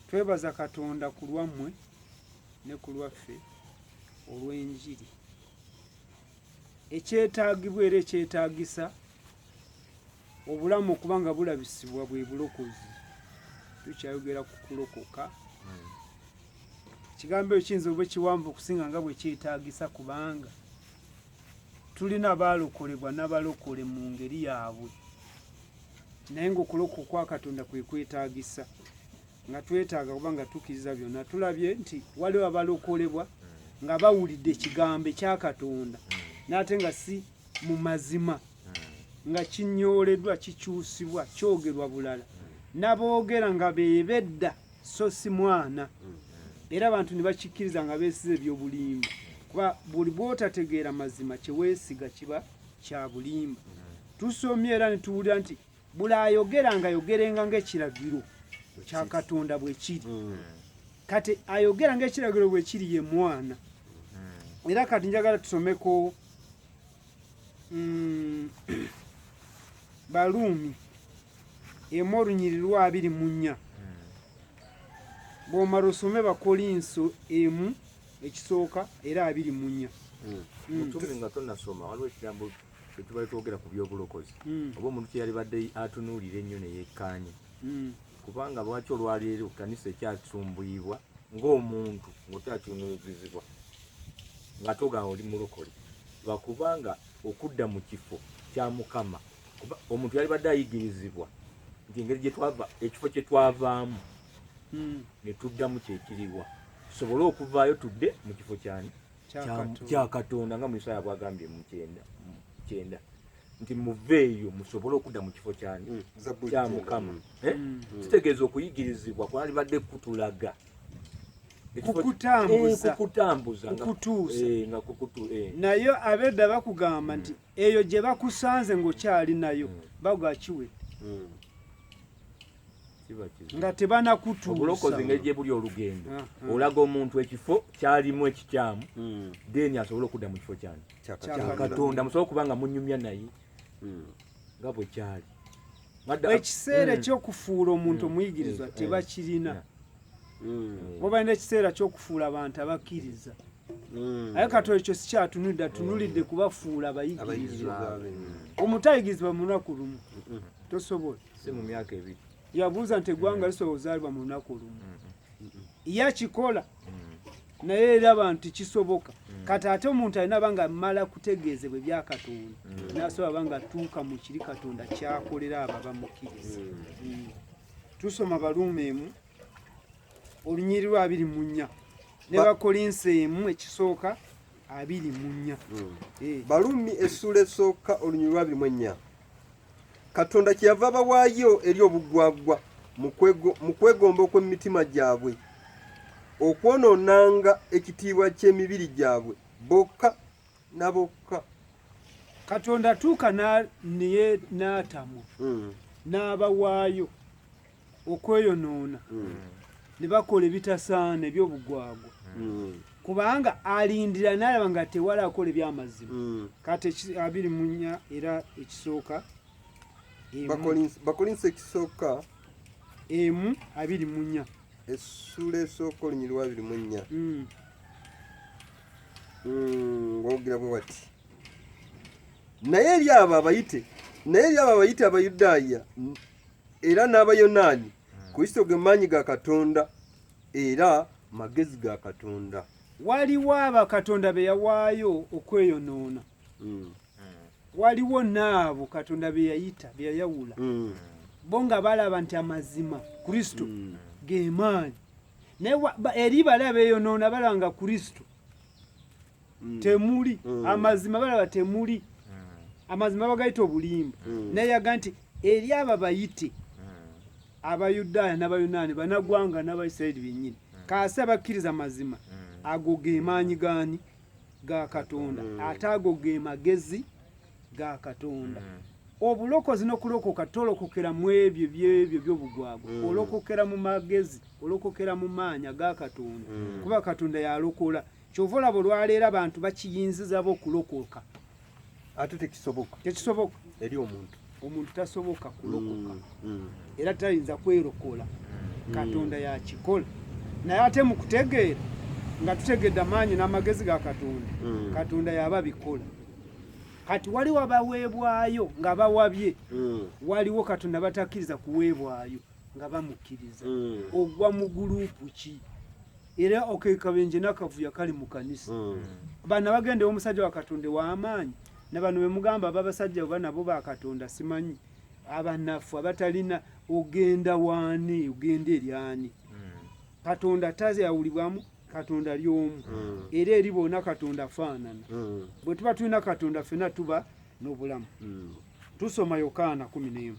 Twebaza Katonda ku lwammwe ne ku lwaffe olw'enjiri ekyetaagibwa era ekyetaagisa obulamu okuba nga bulabisibwa bwe bulokozi tukyayogera ku kulokoka ekigambo ekyo kiyinza oba ekiwanvu okusinga nga bwe kyetaagisa kubanga tulina baalokolebwa n'abalokole mu ngeri yaabwe naye ngaokuloka okwakatonda kwekwetagisa nga twetaaga kuba nga tukiriza byonna tulabye nti waliwo abalokolebwa nga bawulidde ekigambo ekyakatonda naate nga si mu mazima nga kinyooledwa kikyusibwa kyogerwa bulala naboogera nga bebedda so si mwana era abantu ne bakikkiriza nga besiza ebyobulimba kuba buli bwotategeera mazima kyewesiga kiba kyabulimba tusomye era netuwulira nti buli ayogera nga ayogerenga ngaekiragiro kya katonda bwekiri hmm. kati ayogera ngaekiragiro bwekiri ye mwana hmm. era kati njagala tusomeko mm, baluumi emu olunyiri lwa abiri mu nnya hmm. bwomala osome bakolinso emu ekisooka era abiri mu nnya mutume nga tonasoma waliwo ekigambo Bwetubale twogera ku byobulokozi hmm. oba omuntu kyeyalibadde atunuulira ennyo neyekkaanya hmm. kubanga lwaki olwaleero kanisa ekyasumbuyibwa ng'omuntu ng'okyatunuuzizibwa nga togamba oli mulokole lwakubanga okudda mu kifo kya mukama kuba omuntu yalibadde ayigirizibwa nti engeri gyetwava ekifo kye twavaamu hmm. ne tuddamu kyekiriwa tusobole okuvaayo tudde mu kifo kyani kya katonda nga muisaaya bwagambye mukyenda nti muveeyo musobole okudda mu kifo kyani mm, kya mukama mm. Eh? Mm. kitegeeza okuyigirizibwa kwalibadde kutulaga kukutambuza eh, eh, naye abedda bakugamba nti eyo gye bakusanze ng'okyali nayo hmm. bagwa kiwedde hmm. nga tebanakutuusaegybuli olugendo ah, ah. olaga omuntu ekifo kyalimu ekikyamu hmm. then asobole okudda mu kifo kyani kyakatonda musobole okuba nga munyumya naye nga bwe kyali ekiseera ekyokufuula omuntu omuyigirizwa tebakirina oba balina ekiseera kyokufuula abantu abakkiriza Mm. aye kato ekyo sikyatunudde atunulidde kubafuula abayigirizwa omutayigirizwa mu lunaku lumu tosobola yabuuza nti eggwanga lisobola ozaalibwa mu lunaku lumu yakikola mm. naye eraba nti kisoboka mm. kati ate omuntu alina banga mala kutegeezebwa ebyakatonda mm. nasobola banga tuuka mu kiri katonda kyakolera abo abamukkiriza tusoma baluuma emu olunyiri lwa abiri mu nnya ne bakolinsi emu ekisooka abiri mu nnya hmm. eh. balumi essuula esooka olunyiri lwa abiri mu ennya katonda kyeyava bawaayo eri obugwagwa mu kwegomba okw'emitima gyabwe okwonoonanga ekitiibwa ky'emibiri gyabwe bokka na bokka katonda tuuka naye n'atamwa hmm. n'abawaayo okweyonoona hmm. ne bakola ebitasaana eby'obugwagwa hmm. kubanga alindira nalaba nga tewali akola ebyamazima hmm. kati abiri munya era ekisooka bakolinsa ekisooka emu abiri munya essula esooka olunyiriwa abiri munya ngogera bwe bati naye eri abo abayite naye eri abo abayite abayudaaya era n'abayonaani kristo ge maanyi ga katonda era magezi ga katonda waliwo abakatonda be yawaayo okweyonoona hmm. waliwo naabo katonda be yayita be yayawula hmm. bo nga balaba nti amazima kristo hmm. ge maanyi naye eri bali abeyonoona balaba nga kristo mm. temuli mm. amazima balaba temuli mm. amazima bagayita obulimba mm. naye yaga nti eri abo abayite mm. abayudaaya n'abayonaani banagwanga n'abaisirairi bennyini mm. kaasi abakkiriza amazima mm. ago ge maanyi gaani ga katonda mm. ate ago ge magezi ga katonda mm. obulokozi n'okulokoka tolokokera mu ebyo byebyo byobugwagwa mm. olokokera mu magezi olokokera mu maanya ga katonda mm. kuba katonda yalokola mm. Kyova olaba olwaleero abantu bakiyinzizaba okulokoka ate tekisoboka tekisoboka eri omuntu omuntu tasoboka kulokoka mm, mm. era tayinza kwerokola mm. katonda yakikola naye ate mu kutegeera nga tutegedde amaanyi n'amagezi ga katonda katonda yaba bikola kati waliwo abaweebwayo nga bawabye waliwo katonda batakkiriza kuweebwayo nga bamukkiriza ogwa mu guluupu ki era okekabenje nakavuyo kali mu kanisa hmm. bana bagende omusajja wa katonda w'amaanyi ne bano be mugamba babasajja oba nabo ba katonda simanyi abanafu abatalina ogenda waani ogenda eri ani hmm. katonda taze yawulibwamu katonda ali omu hmm. era eri boona katonda afaanana bwe tuba tulina katonda fena tuba n'obulamu tusoma yokaana kumi n'emu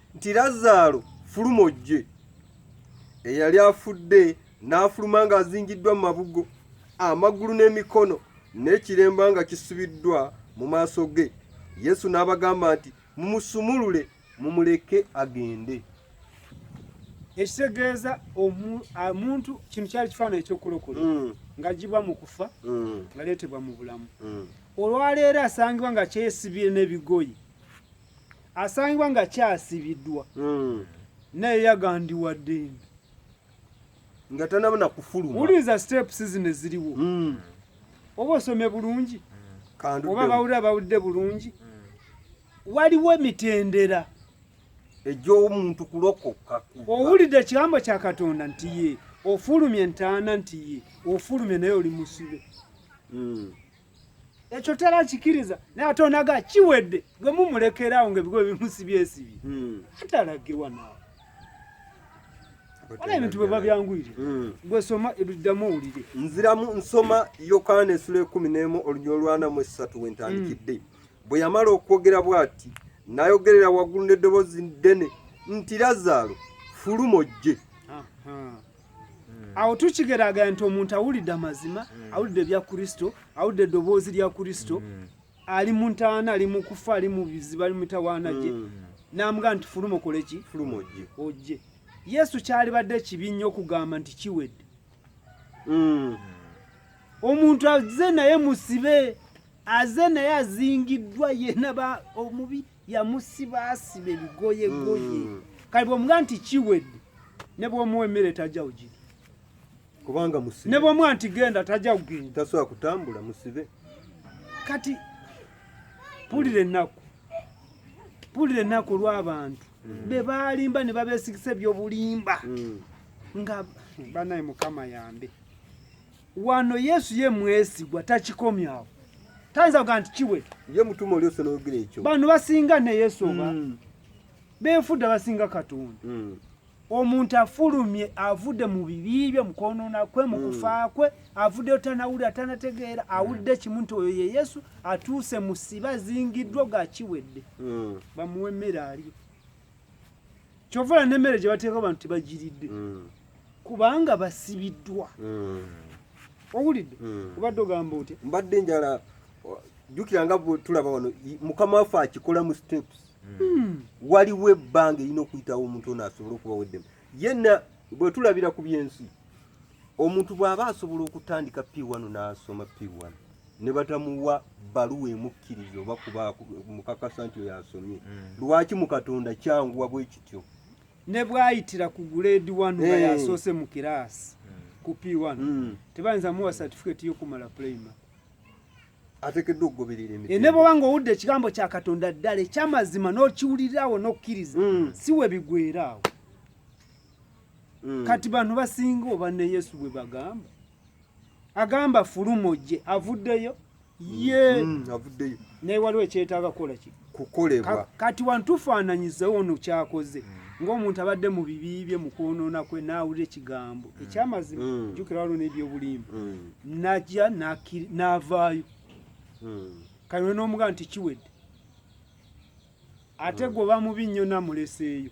nti Lazaalo fuluma ojje. Eyali afudde n'afuluma ng'azingiddwa mu mabugo, amagulu n'emikono n'ekiremba nga kisubiddwa mu maaso ge. Yesu n'abagamba nti, Mumusumulule, mumuleke agende. Ekitegeeza omuntu kino kyali kifaananyi eky'okulokola mm. ng'agibwa mu kufa mm. ngaleetebwa mu bulamu. Mm. Olwaleero asangibwa nga kyesibye n'ebigoyi asangibwa nga kyasibiddwa hmm. naye yagandiwa ddembe nga tanabona kufuluma uliza steps zino eziriwo hmm. oba osome bulungi hmm. oba bawulira bawulidde bulungi waliwo emitendera egy'omuntu kulokoka owulidde ekigambo kya katonda nti ye ofulumye entaana nti ye ofulumye naye oli musibe ekyo tera kikiriza naye ate onaga kiwedde gwe mumulekerawo nga ebigo ebimusibyesibi hmm. atalagirwa nawe wala ebintu bwe babyanguyire hmm. gwe soma ebiddamu owulire nziramu nsoma yokaana esula ekumi n'emu olunya olwana mu esatu wentandikidde hmm. bwe yamala okwogera bw'ati nayogerera waggulu n'eddoboozi ddene nti lazaalo fuluma ojje Hmm. awo tukigeraganya nti omuntu awulidde amazima hmm. awulidde ebya kristo awulidde eddoboozi lya kristo hmm. ali mu ntaana ali mu kufa ali mu bizibu ali mu mitawaana gye namuga nti fuluma okole ki fuluma ojje ojje yesu kyalibadde ekibi nnyo okugamba nti kiwedde omuntu aze naye musibe aze naye azingiddwa yena ba omubiri yamusibaasiba ebigoyegoye mm. kale bwomuga nti kiwedde ne bwomuwa emmere tajja ugiri kubanga musibe ne bwomuwa nti genda tajja kugenda tasobola kutambula musibe kati pulira ennaku pulira ennaku olw'abantu mm. be baalimba ne babeesigisa ebyobulimba mm. nga banaye mukama yambe wano yesu ye mwesigwa takikomya awo tayinza kuga nti kiwe ye mutuma oli osologera ekyo bano basinga ne yesu oba mm. benfudda basinga katonda mm. omuntu afulumye avudde mu bibi bye mukwonona kwe mu mm. kufa kwe avuddeyo tanawulira tanategeera awulidde mm. kimu nti oyo ye yesu atuuse musiba zingiddwa gakiwedde mm. bamuwe emmere alyo kyova olaba n'emmere gye bateeka abantu tebagiridde mm. kubanga basibiddwa mm. owulidde mm. obadde ogamba otya mbadde njala jjukira nga tulaba wano mukama waffe akikola mu steps waliwo ebbanga erina okuyitawo omuntu ono asobole okubawo eddemu Yenna bwe tulabira ku by'ensi, omuntu bw'aba asobola okutandika P1 n'asoma P1 ne batamuwa bbaluwa emukkiriza oba kuba mukakasa nti oyo asomye, hmm. lwaki mu Katonda kyanguwa bwe kityo? Ne bw'ayitira ku guleedi wanu nga eh. yasoose mu kiraasi hmm. ku P1 hmm. tebayinza muwa satifiketi y'okumala pulayimale. atekeddwa okugoberera emiti eh, ne bwoba ng'owudde ekigambo kya katonda ddala ekyamazima n'okiwulirirawo n'okkiriza mm. si we bigweraawo mm. kati bantu basinga oba ne yesu bwe bagamba agamba fulumo gye avuddeyo mm. ye avuddeyo naye waliwo ekyetaaga kukola kiki kukolebwa kati wantufaananyiza ono kyakoze mm. ng'omuntu abadde mu bibi bye mu kwonoona kwe n'awulira ekigambo mm. ekyamazima mm. jjukira waliwo n'ebyobulimba najja n'avaayo kati olina omugamba nti kiwedde ate gwe oba mubi nnyo namuleseeyo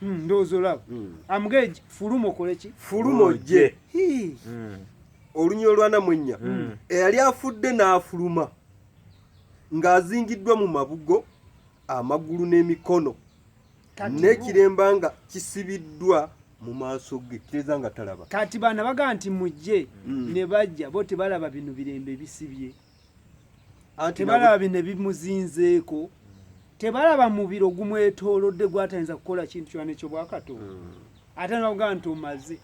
Hmm, ndowooza olaba hmm. amugee fuluma okole ki fuluma ojje hmm. olunya olwana mwennya eyali afudde n'afuluma ng'azingiddwa mu mabugo amagulu n'emikono n'ekiremba nga kisibiddwa mu maaso ge kireza nga talaba kati baana baga nti mujje ne bajja bo tebalaba bino birembe bisibye tebalaba bino ebimuzinzeeko tebalaba mubiro gumwetoolodde gwatayinza kukola kintu kyona ekyobwakatonda hmm. ate nabugamba nti omaze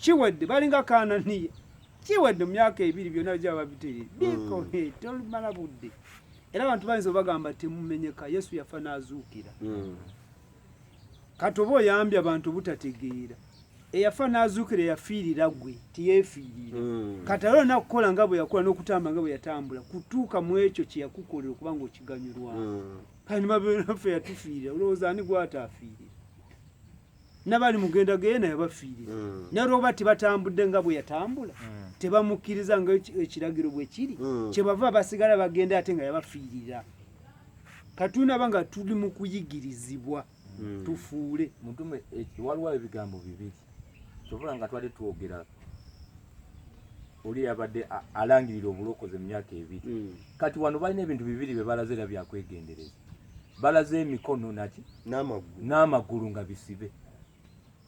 kiwedde balinga kananiya kiwedde mu myaka ebiri byonna bijaba babiterere hmm. biko tolumala budde era abantu bayinza obagamba temumenyeka yesu yafa n'azuukira hmm. kati oba oyambye abantu butategeera eyafa n'azuukira eyafiirira gwe tiyeefiirira hmm. kati era olina kukola nga bwe yakola n'okutamba nga bwe yatambula kutuuka mu ekyo kye yakukolera okuba nga okiganyulwa hmm. kati nibabnaffe yatufiirira olowooza ani gwataafiirira nabali mugenda geye naye bafiirira hmm. naye olwoba tibatambudde nga bwe yatambula tebamukkiriza nga ekiragiro bwe kiri kyebava basigala bagenda ate nga yabafiirira katunaba nga tuli mu kuyigirizibwa hmm. tufuule mutume eh, waliwo ebigambo bibiri kyobola nga twali twogera oli yabadde alangirira obulokozi mu myaka ebiri hmm. kati wano balina ebintu bibiri bye balaze era byakwegendereza balaze emikono naki n'amagulu nga bisibe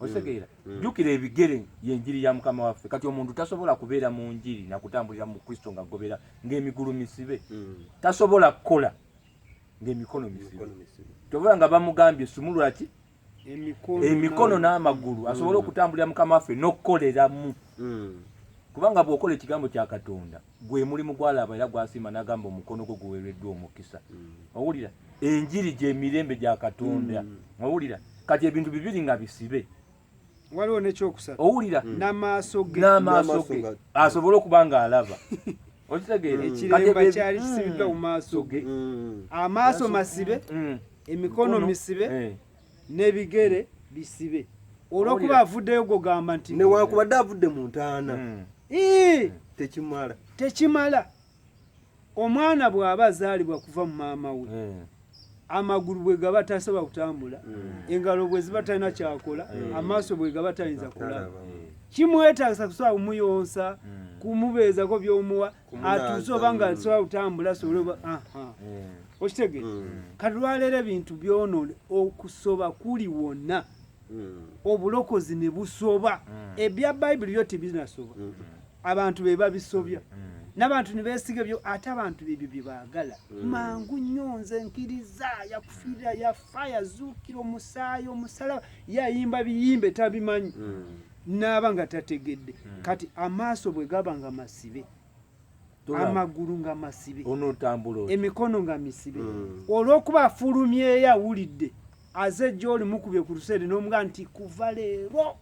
otegeera mm. mm. jukira ebigere yenjiri ya mukama waffe kati omuntu tasobola kubeera mu njiri nakutambulira mu kristo nga gobera ngaemigulu misibe mm. tasobola kukola ngaemikono misibe tobola nga bamugambye sumulwaki emikono n'amagulu asobole okutambulira mukama waffe n'okukoleramu kubanga bw'okola ekigambo kya katonda gwe mulimu gwalaba era gwasiima nagamba omukono gwo guwereddwa omukisa mm. owulira enjiri gyemirembe gya katonda mm. owulira kati ebintu bibiri nga bisibe waliwo nekyokusatu owulira mm. namaaso ge namaaso ge asobole okuba nga alaba okitegeera ekiremba kyali kisibiddwa mu maaso ge amaaso masibe emikono misibe eh. n'ebigere bisibe olwokuba avuddeyo gwogamba nti newankubadde avudde mu ntaana hmm. Hmm. tekimala tekimala omwana bw'aba azaalibwa kuva mu maama we hmm. amagulu bwe gaba tasoba kutambula engalo bwe ziba talina kyakola amaaso bwe gaba tayinza kulaba kimwetaagisa kusobola kumuyonsa kumubeezako by'omuwa atuuse oba nga nsobola kutambula asobole oba eh. okitege hmm. kati lwaleero ebintu byonoona okusoba kuli wonna hmm. obulokozi ne busoba hmm. ebya bayibuli byo tebinasoba abantu be babisobya n'abantu ne beesiga ebyo ate abantu ebyo bye baagala mangu nnyo nze nkiriza yakufiirira yafa yazuukira omusaayi omusalaba yayimba biyimba etabimanyi naaba nga tategedde hmm. kati amaaso bwe gaba nga masibe amagulu nga masibe emikono nga misibe hmm. olwokuba afulumyeyo awulidde aze gyoli mukubye ku luseere nomuga nti kuva leero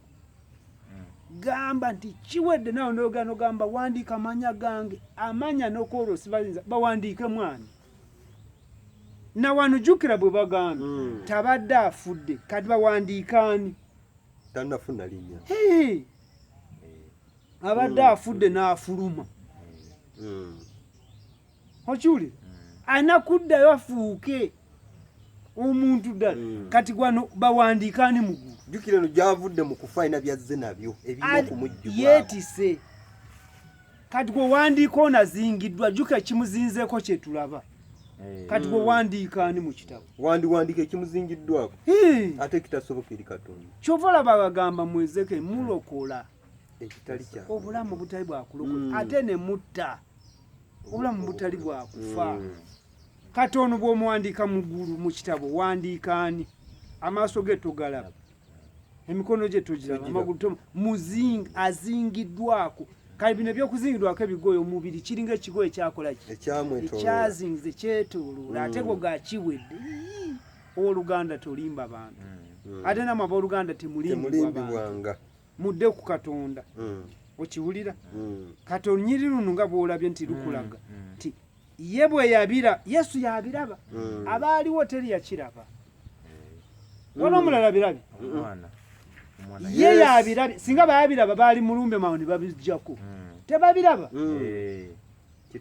hmm. gamba nti kiwedde nawe noyogera nogamba wandiika amanya gange amanya nokwoloosi bayinza bawandiike mwana nawanujukira bwe bagamba tabadde afudde kati bawandiikaani tanafuna linya eh. abadde mm. afudde n'afuluma mm. okiwuli mm. alina kuddayo afuuke omuntu ddala kati gwano bawandiika ani mugulu jjukira eno gyavudde mu kufa alina byazze nabyo ebirina okumujjubwa yeetise kati gwe wandiika onazingiddwa jjuka ekimuzinzeeko kyetulaba eh. kati gwe wandiika ani mu kitabo wandiwandiika ekimuzingiddwako ate kitasoboka eri katonda kyova olaba bagamba mwezeke mulokola ekitali kya obulamu butali bwakulokola hmm. ate ne mutta obulamu butali bwakufa hmm. kati ono bwomuwandiika mu ggulu mu kitabo wandiika ani amaaso ge togalaba emikono gye togiraba amagulu to muzing azingiddwako kale bino ebyokuzingidwako ebigoye omubiri kiringa ekigoye ekyakola ki ekyazingize kyetoloola mm. ate go gakiwedde owoluganda tolimba bantu mm. ate namwe aboluganda temulimbibwanga mudde ku katonda mm. okiwulira kati olunyiri luno nga bwolabye nti lukulaga nti ye bwe yabira yesu yabiraba mm. abaaliwo teri yakiraba mm. wala omulala birabi ye yabirabi singa bayabiraba baali mulumbe mawo ne babijjako mm. tebabiraba eh,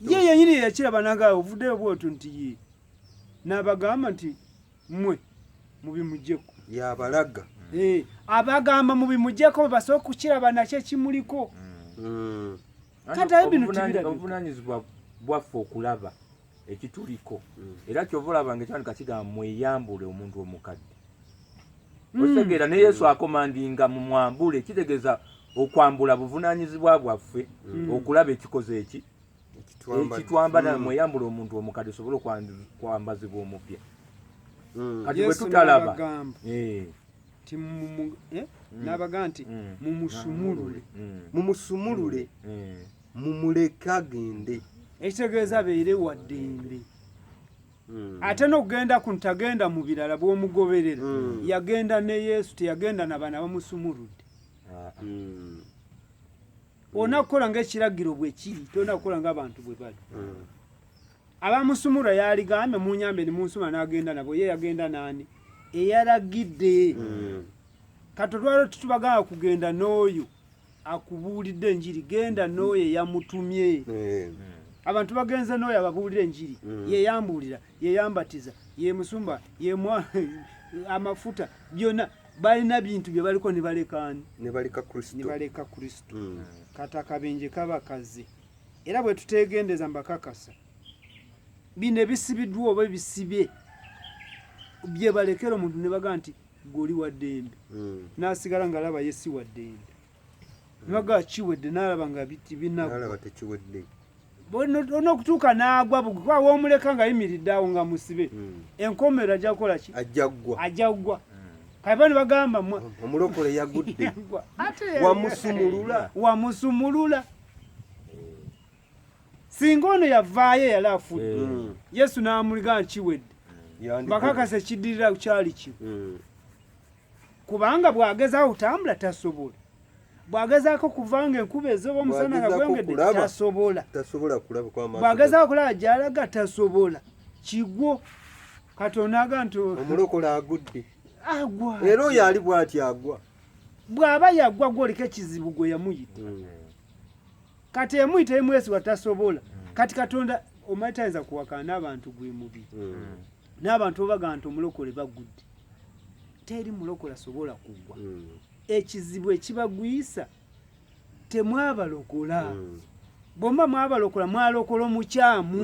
ye yenyini yeyakiraba naga ovuddeyo bwoto nti ye nabagamba nti mwe mubimujeko yabalaga eh, abagamba mubimujeko basooka kukiraba nakyo ekimuliko obuvunanyizibwa bwaffe okulaba ekituliko mm. era kyova olaba nga ekyandika kigamba mweyambule omuntu omukadde mm. okitegeera ne yesu akomandinga mu mwambule kitegeeza okwambula buvunanyizibwa bwaffe mm. okulaba ekikoze eki ekitwambala mweyambule omuntu omukadde osobole okwambazibwa omupya kati bwe tutalaba nti eh? mm. nabaga nti mm. mumusumulule mm. mumusumulule mumuleke agende ekitegeeza beere waddembe ate nokugenda ku ntagenda mu birala bwomugoberera yagenda ne yesu teyagenda nabaana bamusumuludde ah, olina kukola ngaekiragiro bwekiri tolina kukola ngaabantu bwe bali abamusumura yaligambye munyambe ni munsuma nagenda nabo ye yagenda nani eyaragidde mm. katolwalo titubagaa kugenda n'oyo akubuulidde enjiri genda n'oyo eyamutumye mm. abantu bagenze n'oyo ababuulira enjiri mm. yeyambuulira yeyambatiza yemusumba yemwa amafuta byonna balina bintu bye baliko ne balekaani ne baleka kristo mm. kata kabenje kabakazi era bwe tuteegendeza mbakakasa bino ebisibiddwa oba ebisibye bye balekera omuntu ne baga nti goli wa ddembe hmm. n'asigala ng'alaba ye si wa ddembe ne baga kiwedde n'alaba nga biti binalaba tekiwedde olina okutuuka n'agwa bugwa womuleka ng'ayimiridde awo nga musibe hmm. enkomero ajja kukola ki ajjaggwa ajjaggwa kaiba nibagamba mwe omulokole yagudde wamusumulula wamusumulula singa ono yavaayo eyali afudde eh. mm. yesu n'amuliga nkiwedde mm. bakakasa ekiddirira kyali ki mm. kubanga bw'agezaako kutambula tasobola bw'agezaako kuvanga enkuba ezooba omusana nga gwengedde tasobola bw'agezaako okulaba gy'alaga tasobola kigwo katonda aga nti omulokola agudde agwa era oyo ali bw'ati agwa bw'aba yagwa gwoleka ekizibu gwe yamuyita hmm. kati emuyita emwesiba tasobola hmm. kati katonda omanyi tayinza kuwakana n'abantu gwe mubi hmm. n'abantu obaga nti omulokole bagudde teri mulokole asobola kugwa ekizibu ekibagwisa temwabalokola bwemba mwabalokola mwalokola omukyamu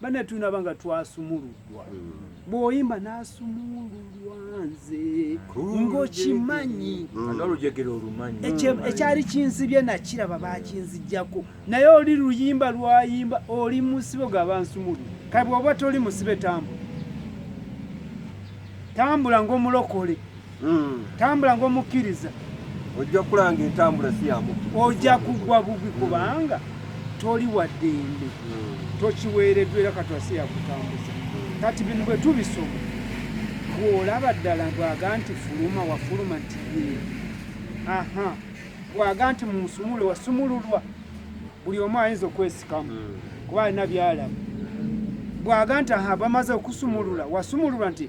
Bane tunaba nga twasumuludwa mm. bwoyimba nasumululwa nze ngokimanyi mm. ekyali kinsibye nakiraba bakinzijjako naye oli luyimba lwayimba oli musibe gaba nsumulu kabe oba toli musibe tambula tambula ngaomulokole mm. tambula ngaomukkiriza ojja kulanga entambula si yamukkiriza ojja kugwa bugwi mm. kubanga toli waddembe mm. tokiweereddwa era katwa si yakutambuza mm. kati bino bwe tubisoma bw'olaba ddala bwaga nti fuluma wafuluma nti yee aha bwaga nti munsumule wasumululwa buli omu ayinza okwesikamu mm. kuba alina byalaba bwaga nti aha bamaze okusumulula wasumululwa nti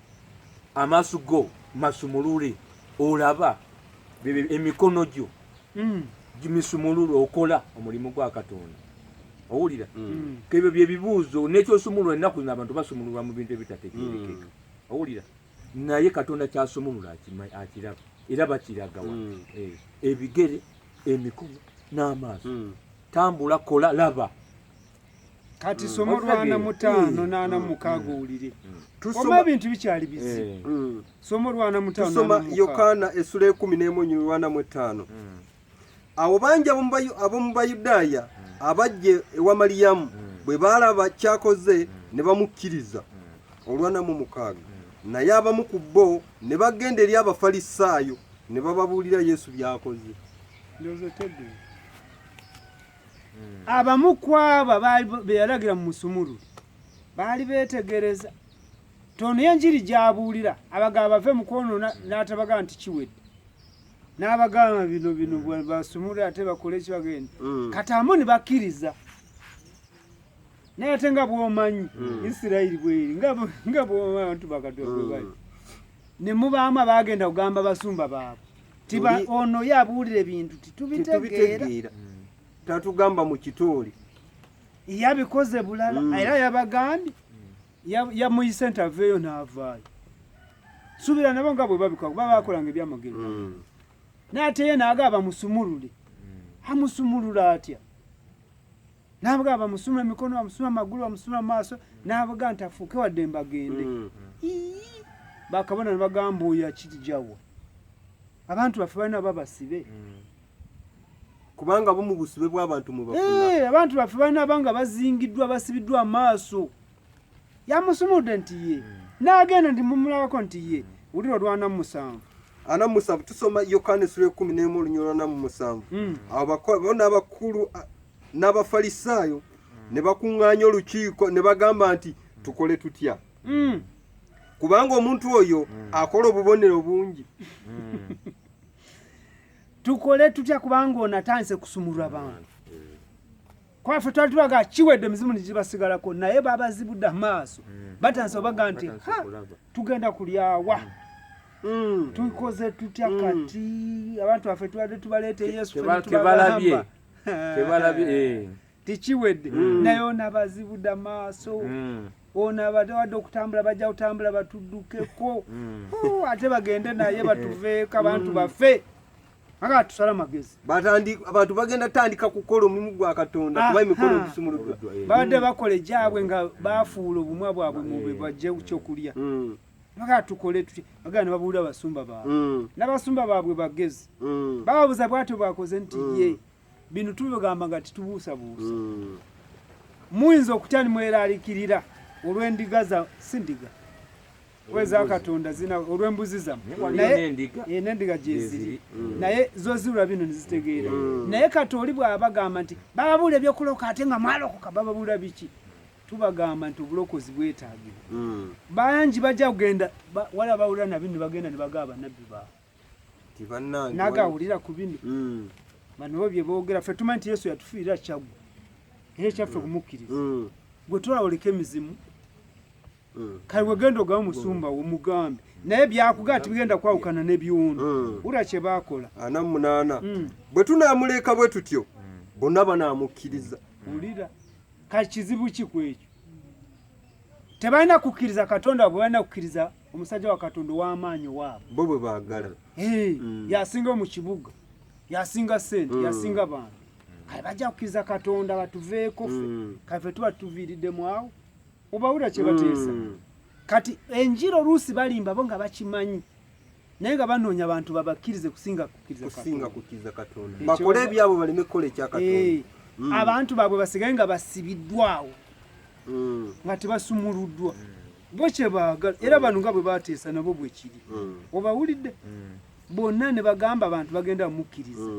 amaaso go masumulule olaba emikono gyo mm. gimisumulule okola omulimu gwa katonda owulira mm. mm. kebyo byebibuuzo nekyosumulula ennaku zino abantu basumululwa mu bintu ebitategerekeka owulira naye katonda kyasumulula akiraba era bakiragawa eh, ebigere emikono n'amaaso tambula kola laba kati somo lwana mutano nana mukago mm. ulire mm. tusoma bintu bikyali bizi eh. mm. somo lwana mutano tusoma yokana esule kumi nemu nyu lwana mutano abo banja abo mubayudaya abajje ewa mariyamu bwe balaba kyakoze ne bamukiriza olwana mu mukago naye abamu ku bo ne bagenda eri abafalisaayo ne bababuulira yesu byakoze hmm. abamu kwaba beyalagira mu musumulu baali betegereza tono enjiri gyabuulira abagaba bave mu kwonona hmm. n'atabaga nti kiwedde n'abagamba bino bino hmm. basumule ate bakole ekibagenda kati amu ne bakkiriza naye ate nga bwomanyi isirayiri bweri nga bwomanyi abantu bakatonda bwebali ne mubaamu abaagenda kugamba basumba baabwe tiba ono yabuulire bintu titubitegeera hmm. tatugamba mu kitooli yabikoze bulala hmm. era yabagambye hmm. yamuyise ntaveeyo naavaayo subira nabo nga bwe babikola kuba bakolanga ebyamagero naye ate ye naaga abamusumulule amusumulula atya Nabuga bamusuma emikono bamusuma amagulu bamusuma amaaso nabuga nti afuuke wadde mbagende mm. bakabona nebagamba oyo akirijawa abantu baffe balina babasibe mm. kubanga bo mu busibe bw'abantu mwe bafuna eh, abantu baffe balina banga bazingiddwa basibiddwa amaaso yamusumudde nti ye n'agenda nti mumulabako nti ye wulira olwana mu musanvu ana musanvu tusoma yokaana essula ekumi n'emu olunyolo ana mu musanvu hmm. bona abakulu n'abafalisaayo ne bakuŋŋaanya olukiiko ne bagamba nti tukole tutya hmm. kubanga omuntu oyo hmm. akola obubonero bungi tukole tutya kubanga ono atandise kusumulwa bantu kwafe twali tubaga kiwedde mizimu nigibasigalako naye babazibudde amaaso mm. batansa obaga nti tugenda kulyawa mm. Mm. tukoze tutya mm. kati abantu baffe tubadde tubaleeta yesutebalabye eh. tikiwedde mm. naye onabazibude amaaso onabawadde okutambula bajja kutambula batuddukeko oh, ate bagende naye batuveeko abantu baffe Aga tusala magezi. Batandi abantu bagenda tandika kukola omulimu gwa Katonda kuba emikono okusumuludwa. Eh. Baade mm. bakole jabwe nga bafuula obumwa bwabwe mu be eh. bajje kukyokulya. Mm. Aga tukole tuti aga ne babuula basumba ba. Mm. Nabasumba babwe bagezi. Mm. Babuza bwatyo bakoze nti mm. ye. Bino tubigamba nga titubuusa buusa. Mm. Muyinza okutya ni mweralikirira olw'endiga za sindiga. weza katonda zina olw'embuzi zamu eh, n'endiga gyeziri mm. naye zozirula bino nezitegeera mm. naye kati oli bwabagamba nti bababuula ebyokuloka ate nga mwalokoka bababuula biki tubagamba nti obulokozi bwetagibwa mm. bangi bajja kugenda wala bawulira nabino nebagenda nebaga abanabbi baabwe nagawulira ku bino banobo byebogera fe tumanyi nti yesu yatufiirira kyagwa era ekyaffe okumukkiriza gwe twawulika emizimu mm. kale wegenda ogamba musumba wo mugambe naye byakugaa tibigenda kwawukana ne byuno mm. wura kye bakola ana munaana mm. bwe tunamuleka bwe tutyo bonna banamukkiriza wulira kati kizibu ki ku ekyo tebalina kukkiriza katonda wabwe balina kukkiriza omusajja wa katonda ow'amaanyi owaabwe bo bwe baagala mm. yasinga mu kibuga yasinga sente mm. yasinga bantu kale bajja kukkiriza katonda batuveeko fe mm. kale fe tuba tuviiriddemu awo obawulira kyebateesa mm. kati enjira oluusi balimba bo nga bakimanyi naye nga banoonya bantu babakkirize kusinga kukkiriza katonda bakole ebyabo baleme kukola ekyakatonda eh, mm. abantu baabwe basigaye nga basibiddwawo mm. nga tebasumuluddwa mm. bo kyebaagala era bano nga bwe bateesa nabo bwekiri obawulidde bonna ne bagamba abantu bagenda bamukkiriza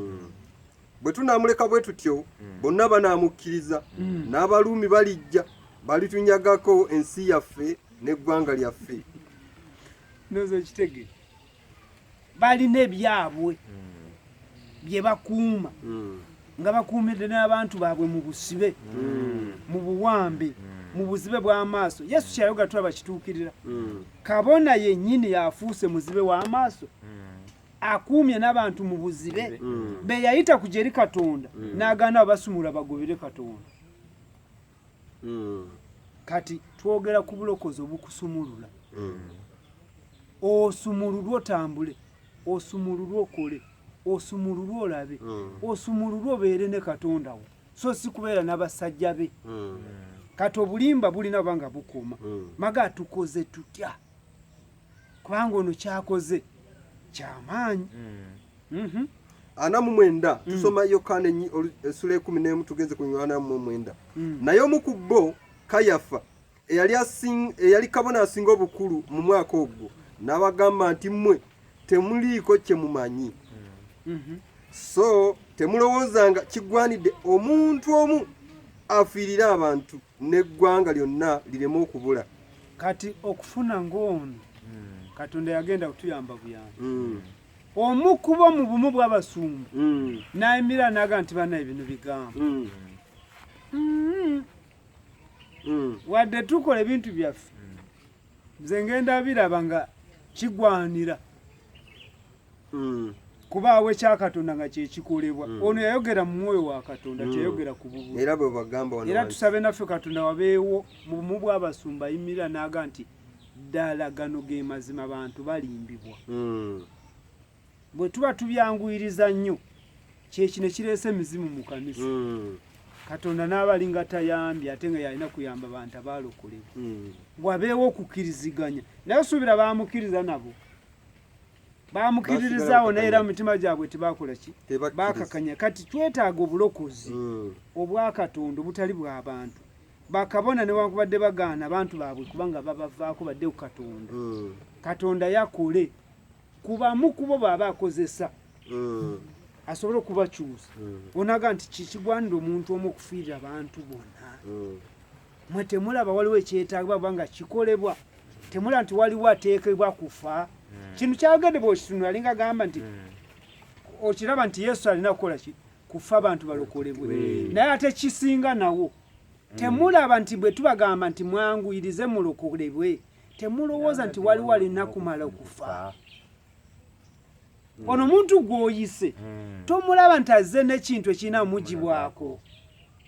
bwe tunaamuleka bwe tutyo hmm. bonna banaamukkiriza hmm. n'abaluumi balijja balitunyagako ensi yaffe n'eggwanga lyaffe noza ekitege balina ebyabwe hmm. bye bakuuma nga bakuumidde n'abantu baabwe mu busibe mu buwambe mu buzibe bw'amaaso yesu kyayoga tulaba kituukirira kabona yennyini yafuuse muzibe w'amaaso akuumye n'abantu mu buzibe mm. be yayita kujja eri katonda mm. n'agaana abasumula bagobere katonda mm. kati twogera ku bulokozi obukusumulula osumululwe otambule osumululwe okole osumululwe olabe osumululwe obeere ne katonda wo so si kubeera n'abasajja be kati obulimba bulina banga bukuuma maga tukoze tutya kubanga ono kyakoze kyamaanyi mm. mhm. ana mu mwenda mm. tusoma yokaana essula ekumi n'emu tugenze ku yokaana mu mwenda mm. naye omu ku bo kayafa eyali kabona asinga obukulu mu mwaka ogwo n'abagamba nti mmwe temuliiko kye mumanyi mhm. so temulowoozanga kigwanidde omuntu omu afiirire abantu n'eggwanga lyonna lireme okubula kati okufuna ng'ono hmm. katonda yagenda kutuyamba buyamba hmm. omu kuba mu bumu bw'abasumba hmm. nayimira naga nti banaye bino bigambo wadde tukola ebintu byaffe nze ngenda biraba nga kigwanira mm. kubaawo ekya katonda nga kyekikolebwa mm. ono yayogera mu mwoyo wa katonda mm. teyayogera ku bubuli era bwe bagamba wano era tusabe naffe katonda wabeewo mu bumu bw'abasumba yimirira naaga nti ddala gano ge mazima bantu balimbibwa mm. bwe tuba tubyanguyiriza nnyo kyekino kireese emizimu mu kanisa mm. katonda naaba alinga tayambye ate nga yalina kuyamba bantu abalokolebwa hmm. wabeewo okukiriziganya naye osuubira bamukiriza nabo bamukiririzaawo naye era mu mitima gyabwe tebaakola ki bakakanya kati twetaaga obulokozi hmm. obwakatonda obutali bwabantu bakabona newankubadde bagaana abantu baabwe kubanga babavaako badde ku katonda hmm. katonda yakole kubamu kubo baaba akozesa hmm. asobole okubakyusa onaga nti kikigwanira omuntu omu okufiirira abantu bona mwe temulaba waliwo ekyetagibwa kubanga kikolebwa temula nti waliwo ateekebwa kufa hmm. kino kyagende bwekitunula alinga agamba nti hmm. okiraba nti yesu alina kukola ki kufa abantu balokolebwe hmm. naye ate kisinga nawo temulaba nti bwe tubagamba nti mwanguyirize mulokolebwe temulowooza nti waliwo alina kumala okufa mm. ono muntu gwoyise mm. tomulaba nti azze nekintu ekirina omugibwako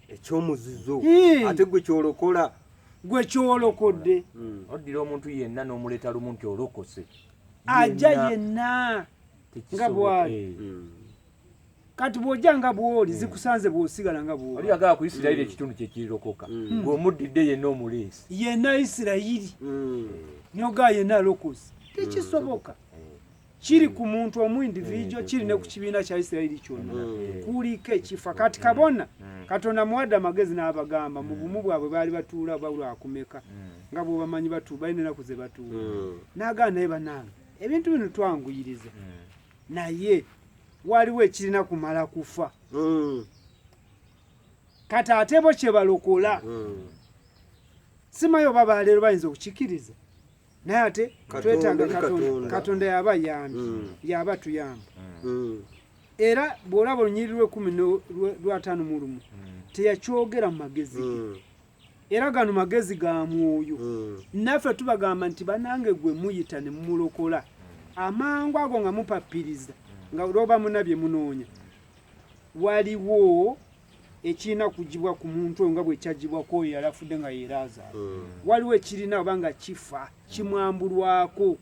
ekyomuzizo ate gwe kyolokola gwe kyolokodde mm. oddira omuntu yenna n'omuleeta lumu nti olokose ajja yenna nga bwali eh. kati bwojja nga bwoli hmm. zikusanze bwosigala nga bwoli oli agala ku isirayiri hmm. ekitundu kyekirirokoka hmm. gweomuddidde yenna omuleesi yenna isirayiri nyoga yenna lokosi tekisoboka kiri ku muntu omu individual kiri ne ku kibiina kya Isirayiri kyonna mm. kuliko ekifa kati kabona mm. katonda muwadde amagezi n'abagamba mu bumu bwabwe baali batuula oba lwakumeka mm. nga bwobamanyi batuula balina enaku ze batuula n'agamba naye banange ebintu bino twanguyiriza naye waliwo ekirina kumala kufa kati ate bo kyebalokola simayo oba baleero bayinza okukikiriza naye ate twetaaga katonda katonda yaba yambi mm. yaba tuyamba mm. era bw'olaba olunyiri lwekumi lwataano mu lumu mm. teyakyogera mu magezi ge mm. era gano magezi ga mwoyo mm. naffe tubagamba nti banange gwe muyita ne mumulokola mm. amangu ago nga mupapiriza mm. nga lwoba munabye munoonya waliwo ekirina kugibwa ku muntu oyo nga bwe kyagibwa ku oyo yali afudde nga yeeraazaala hmm. waliwo ekirina oba nga kifa kimwambulwako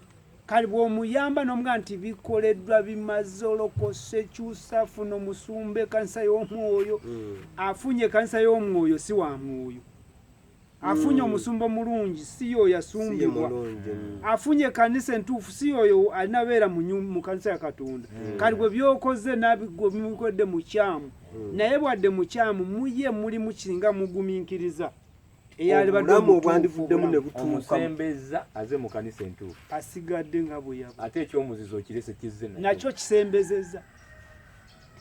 kale bw'omuyamba n'omugaa nti bikoleddwa bimaze olokose kyusa funa omusumba ekanisa y'omwoyo hmm. afunye ekanisa y'omwoyo si wa mwoyo afunye mm. omusumba omulungi si yoyo asumbibwa mm. afunye kanisa entuufu si yoyo alina beera mu kanisa ya katonda mm. kati bwe byokoze nabimukodde mukyamu naye bwadde mukyamu muye muli mukinga muguminkiriza eyalibademu obwandivuddemu nebutuukamusembeza aze mu kanisa entuufu asigadde nga bweyaba ate ekyomuzizo okirese kizze nakyo kisembezeza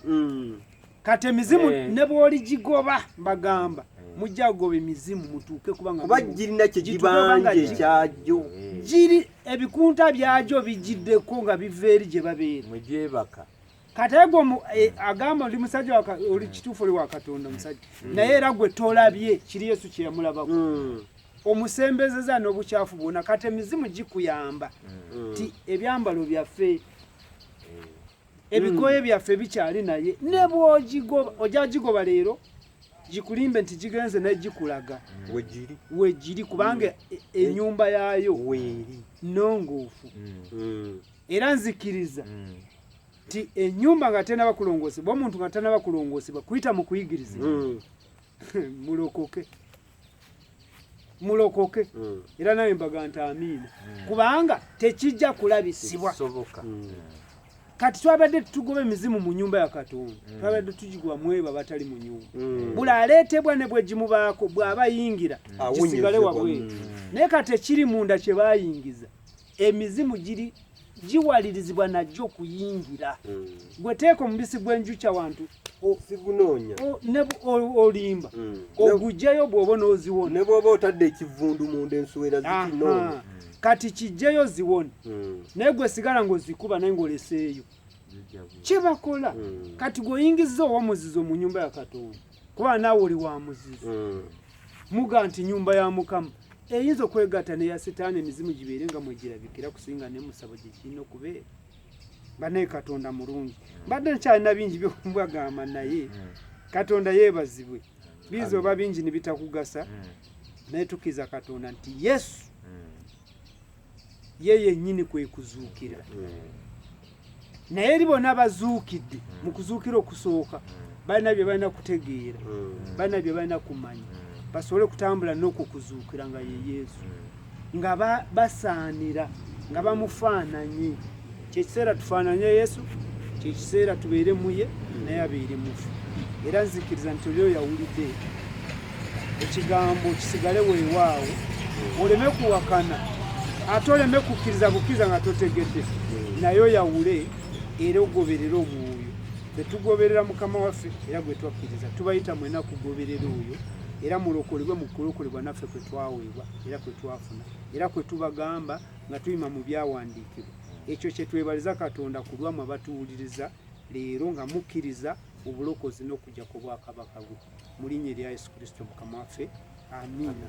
mm. kati emizimu eh. ne bwoligigoba mbagamba eh. mujja kugoba emizimu mutuuke kubanga kuba girina kyegibanje kyagyo eh. giri ebikunta byagyo bigiddeko nga biva eri gye babeera mugyebaka kati egwo agamba oli musajja oli kituufu oli wa katonda musajja mm. naye era gwe tolabye kiri yesu kyeyamulabako mm. omusembezeza n'obukyafu bwona kati emizimu gikuyamba mm. ti ebyambalo byaffe ebikooye mm. byaffe bikyali naye ne bwogigoba ojja gigoba leero gikulimbe nti gigenze naye gikulaga mm. wegiri kubanga mm. e, e, enyumba yaayo nongoofu era nzikiriza nti enyumba nga tenaba kulongoosebwa omuntu nga tanaba kulongoosebwa kuyita mu kuyigirizibwa mulokoke mulokoke mm. era nawe mbaga nti amiina mm. kubanga tekijja kulabisibwa mm. kati twabadde tutugoba emizimu mu nyumba ya katonda twabadde tugigoba mwebo abatali mu nyumba buli aleetebwa ne bwegimubaako bw'aba yingira kisigale wabweru naye kati ekiri munda kye bayingiza emizimu giri giwalirizibwa najjo okuyingira hmm. gwe teeka omubisi gw'enjukya wantu sigunoonya olimba hmm. ogugyeyo bw'oba n'oziwona ne bw'oba otadde ekivundu munda ensuwera zikinoonya kati kijjeyo ziwone hmm. naye gwe sigala ng'ozikuba naye ng'oleseeyo kye bakola kati gweoyingizza owomuzizo mu nyumba ya katonda kuba naawe oli wa muzizo mm. muga nti nyumba ya mukama eyinza okwegatta neya sitaani emizimu gibeere nga mwegirabikira kusinga nemusabo gye kirina okubeera banaye katonda mulungi mbadde nkyalina bingi byokumbwagamba naye mm. katonda yebazibwe biiza oba bingi nibitakugasa mm. naye tukiza katonda nti yesu ye yennyini kwe kuzuukira hmm. naye eri bona bazuukidde hmm. mu kuzuukira okusooka hmm. balina bye balina kutegeera balina bye balina kumanya basobole okutambula n'okwo kuzuukira nga ye yesu nga basaanira nga bamufaananye kyekiseera tufaananye yesu kyekiseera tubeere muye naye abeere mufu era nzikiriza nti oli oyo awulidde ekigambo kisigale weewaawo oleme kuwakana ate oleme kukkiriza bukkiriza nga totegedde naye oyawule era ogoberere omwoyo tetugoberera mukama waffe era gwe twakkiriza tubayita mwena kugoberera oyo era mulokolebwe mu kulokolebwa naffe kwe twaweebwa era kwe twafuna era kwe tubagamba nga tuyima mu byawandiikibwa ekyo kyetwebaliza katonda ku lwamwe abatuwuliriza leero nga mukkiriza obulokozi n'okujja ku bwakabaka bwe mu linnya erya yesu kristo mukama waffe amiina